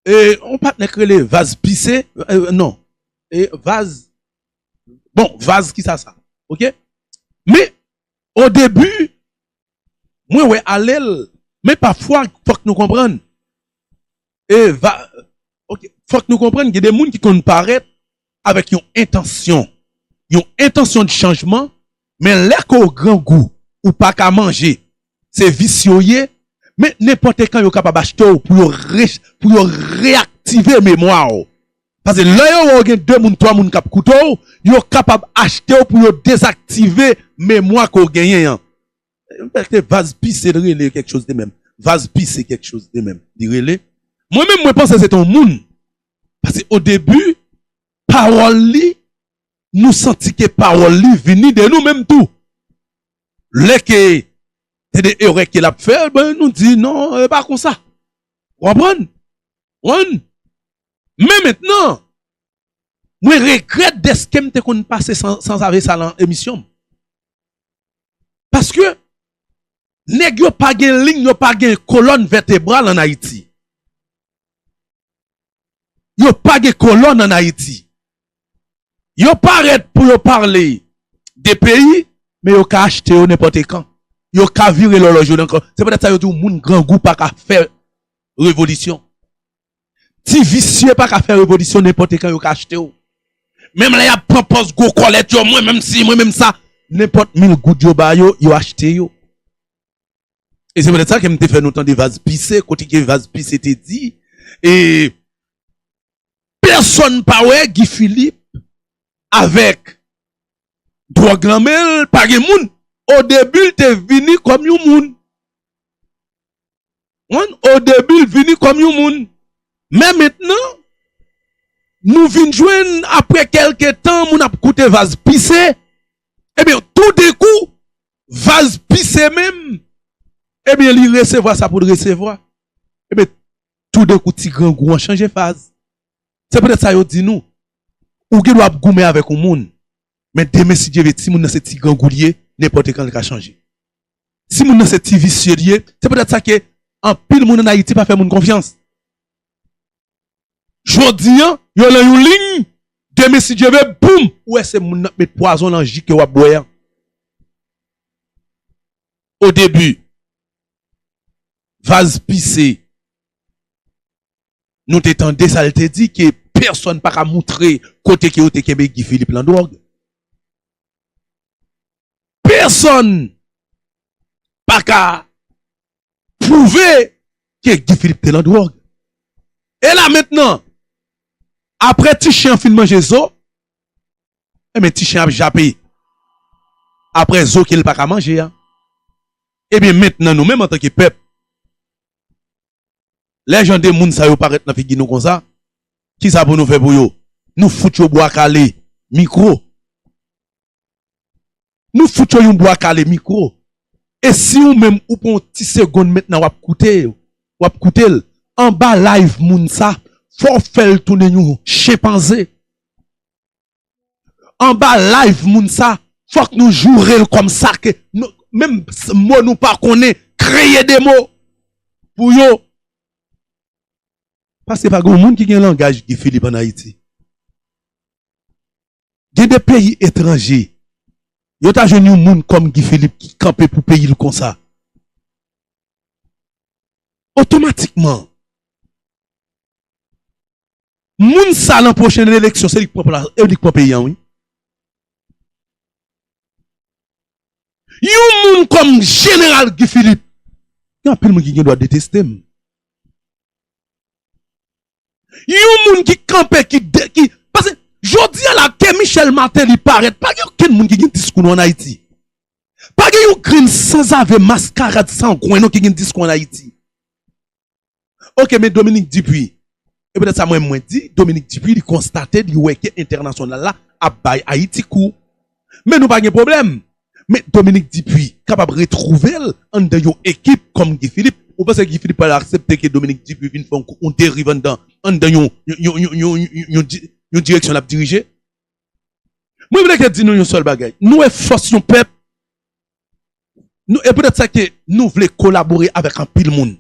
e yon patnè ki rele vaz pise, non, e vaz, bon, vaz ki sa sa? Ok. Men, odebi, Mwen wè alel men pafwa fok nou konprann eva ok fok nou konprann gen de moun ki konn parèt avek yon entansyon yon entansyon de chanjman men lè ke w grangou ou paka manje se visye w ye men nenpote kan yo kapab achte w pou yo re pou yo reaktive memwa w. Pase lè yo wè w gen 2 moun 3 moun k ap koute w, yo kapab achte w pou yo dezaktive memwa ke w genyen an. Bèlte vaz pise l rele kèk choz de mèm. Vaz pise kèk choz de mèm li rele. Mwen menm mwen panse se te yon moun. Pase o debi pawòl li nou santi ke pawòl li vini de nou menm tou. Lè ke se de erè ke l ap fè, nou di non e pa konsa. Ou konprann? Ou konprann? Men mentnan, mwen regrèt dèske m te konn pase sanzave sa lan emisyon m. Paske, nèg yo pa gen lin, yo pa gen kolòn vètebral an Ayiti. Yo pa gen kolòn an Ayiti. Yo parèt pou yo pale de peyi, men yo ka achte yo nenpòte kan. Yo ka vire lòlòj yo nan kan. Se poutèt sa yo di w moun grangou pa ka fè revolisyon. Ti visye paka fè revolisyon nenpòte kan yo ka achte w. Menm lè y ap pran pòz gwo kòlèt yo mwen menm si mwen menm sa nenpòt mil goud yo ba yo yo achte yo. E se petèt sa ke m te fè nou tande vaz pise kote ke vaz pise te di e pèsòn pa wè Guy Philippe avèk dwòg lan men l pa gen moun. Odebi l te vini kòm yon moun. One o debi l vini kòm yon moun men mentnan nou vin jwenn aprè kelke tan moun ap koute vaz pise ebyen tou denkou vaz pise menm ebyen li resevwa sa pou l resevwa ebyen tou denkou ti grangou an chanje faz se poutèt sa yo di nou ou gen dwa ap goumen avèk yon moun men demen si Dye vle ti moun nan se ti grangou li ye nenpòtekan li ka chanje. si moun nan se ti visye li ye, se poutèt sa ke anpil moun an Ayiti pa fè moun konfyans. Jodi an, yo lan yon liy, demen si Dye ve, boum, ou wè se moun nan k met pwazon lan ji ke w ap bwè an. O debi, Vaz pise, nou te tande sa l te di ke pèsòn pa ka moutre kote ke yo te kenbe Guy Philippe lan dwòg. Pèsòn pa ka pwouve ke Guy Philippe te lan dwòg. E la mentnan, apre ti chen an fin manje zo, enben ti chen ap jape apre zo ke li pa ka manje a. Ebyen mentnan nou menm antanke pèp, lè jan de moun sa yo parèt nan figi nou konsa, kisa pou nou fè pou yo? Nou fout yo bwa kale, mikwo. Nou fout yo yon bwa kale mikro. E si ou menm ou pran yon ti segond mentnan wap koute yo, wap koute l, anba live moun sa fò w fè l tounen yon chenpanze. Anba live moun sa fòk nou joure l kòm sa ke nou menm mo nou pa konnen kreye de mo pou yo. Paske pa gen yon moun ki gen langaj Guy Philippe an Ayiti. Gen de peyi etranje yo ta jwenn yon moun kòm Guy Philippe ki kanpe pou peyi l konsa otomatikman moun sa lan pwochenn eleksyon se li k pran plas e li k pran peyi an wi. Yon moun kòm jeneral Guy Philippe gen anpil moun ki gen dwa deteste m. Yon moun ki kanpe ki pase jodi a la ke Michel Martelly parèt pa gen okenn moun ki gen diskou nou an Ayiti. Pa gen yon grenn sanzave maskarad sangwen non ki gen diskou an Ayiti. Ok men Dominique Dupuy e petèt sa mwen mwen di Dominique Dupuy li konstate li wè ke entènasyonal la ap bay Ayiti kou. Men nou pa gen pwoblèm. Men Dominique Dupuy kapab retwouve l anndan yon ekip kòm Guy Philippe. Ou panse Guy Philippe pral aksepte ke Dominique Dupuy vin fè yon deriv anndan anndan yon yon yon direksyon l ap dirije? Mwen vle ke di nou yon sèl bagay. Nou e fòs yon pèp. Nou e poutèt sa ke nou vle kolabore avèk anpil moun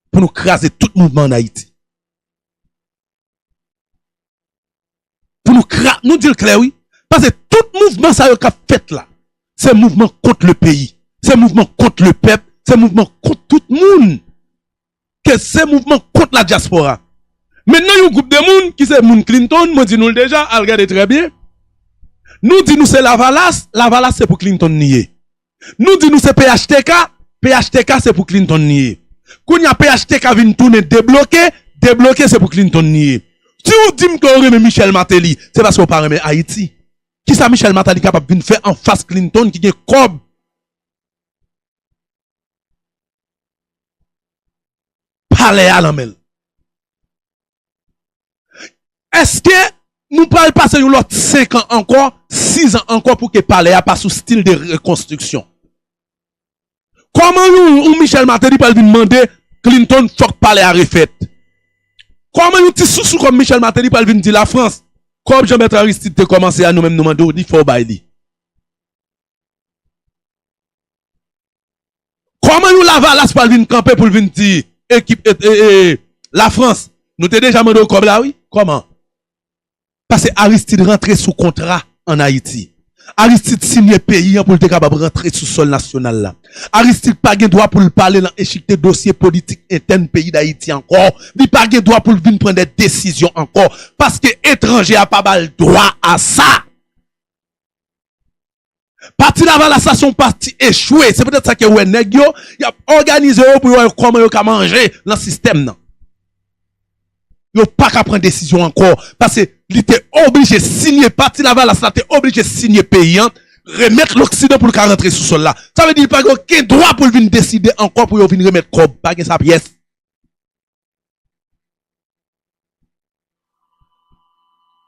pou nou kraze tout mouvman an Ayiti. Pou nou kra, nou di l klè wi, pase tout mouvman sa yo k ap fèt la, se mouvman kont le peyi, se mouvman kont le pèp, se mouvman kont tout moun, ke se mouvman kont la dyaspora. Men nan yon gwoup de moun ki se moun Clinton, mwen di nou l deja, al gade trè byen, nou di nou se lavalas, lavalas se pou Clinton li ye. Nou di nou se phtk, phtk se pou Clinton li ye. Kounye a phtk vin tounen debloke, debloke se pou Clinton li ye. Si ou di m ke ou renmen Michel Martelly, se paske ou pa renmen Ayiti. Kisa Michel Martelly kapab vin fè anfas Clinton ki gen kòb? Palè a nan men l. Eske nou pral pase yon lòt 5 an ankò, 6 an ankò pou ke palè a pa sou stil de rekonstriksyon? Kòman yon Michel Martelly pral vin mande Clinton fòk palè a refèt? Kòman yon ti sousou kòm Michel Martelly pral vin di Lafrans, kòb Jean Bertrand Aristide te kòmanse a nou menm nou mande w li fò w bay li? Kòman yon lavalas pral vin kanpe poul vin di ekip la frans nou te deja mande w kòb la wi kòman pase aristid rantre sou kontra an ayiti aristid siyen peyi an poul te kapab rantre sou sòl nasyonal la aristid pa gen dwa poul pale lan echikte dosye politik entèn peyi dayiti ankò li pa gen dwa poul vin pran dè desizyon ankò paske etranje a pa bal dwa a sa. Pati lavalas la se yon pati echwe, se petèt sa ke ou wè nèg yo, y ap òganize yo pou yo wè kòman yo ka manje nan sistèm nan. Yo pa ka pran desizyon ankò, pase li te oblije sinye, pati lavalas la te oblije sinye peyi an, remèt loksidan pou l ka rantre sou sòl la. Sa vle di li pa gen oken dwa pou l vin deside ankò pou yo vin remèt kòb, pa gen sa pyès.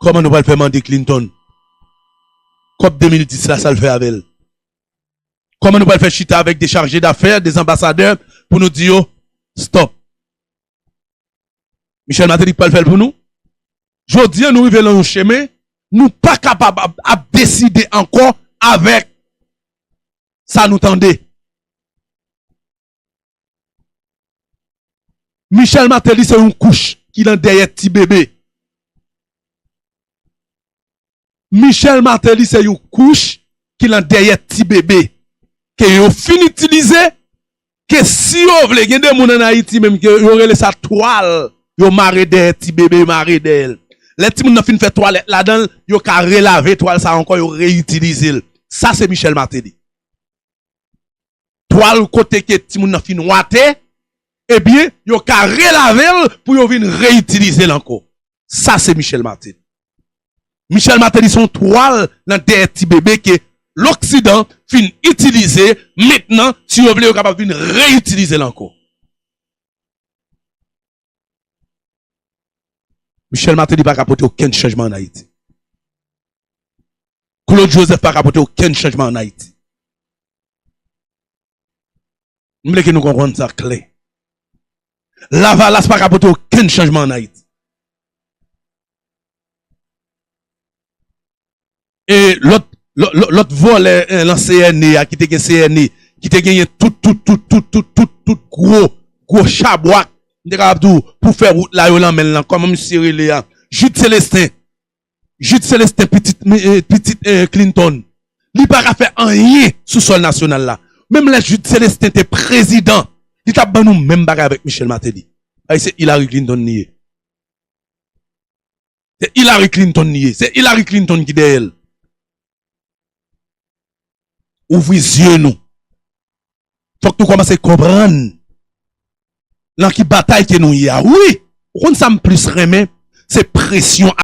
Koman nou pral fè mande Clinton kòb 2010 la sal fè avèl? Koman nou pral fè chita avèk 2 charge d'affaires, 2 anbasadè pou nou di yo stop? Michel Martelly ki pral fèl pou nou? Jodi an nou rive lan yon chemen nou pa kapab ap deside ankò avèk sa nou tande. Michel Martelly se yon kouch ki nan dèyè ti bebe. Michel Martelly se yon kouch ki nan dèyè ti bebe. Ke yo fin itilize, ke si yo vle, gen de moun an Ayiti menm ke yo rele sa twal yo mare dèyè ti bebe, yo mare dèyè l. Lè ti moun nan fin fè twalèt ladan l, yo ka relave twal sa ankò, yo reyitilize l. Sa se Michel Martelly. twal kote ke timoun nan fin wate, ebyen yo ka relave l pou yo vin reyitilize l ankò. Sa se Michel Martelly. Michel Martelly se yon twal nan dèyè ti bebe ke loksidan fin itilize, mentnan si yo vle yo kapab vin reyitilize l ankò. Michel Martelly pa ka pote okenn chanjman an Ayiti. Claude Joseph pa ka pote okenn chanjman an Ayiti. M vle ke nou konprann sa klè. Lavalas pa ka pote okenn chanjman an Ayiti. E lòt lòt vòlè lan CNE ya ki te gen CNE ki te genyen tout tout tout tout tout tout tout gwo gwo chabwak m te kapab di w pou fè wout la yo lan men l lan kòman misye rele a Jude Celestin Jude Celestin pitit pitit Clinton li pa ka fè anyen sou sòl nasyonal la menm lè Jude Celestin te prezidan li t ap ban nou menm bagay avèk Michel Martelly paske se Hillary Clinton li ye. Se Hillary Clinton li ye. Se Hillary Clinton ki dèyè l. Ouvri zye nou. Fòk nou kòmanse konprann nan ki batay ke nou ye a. Wi, ou konn sa m plis renmen? Se presyon.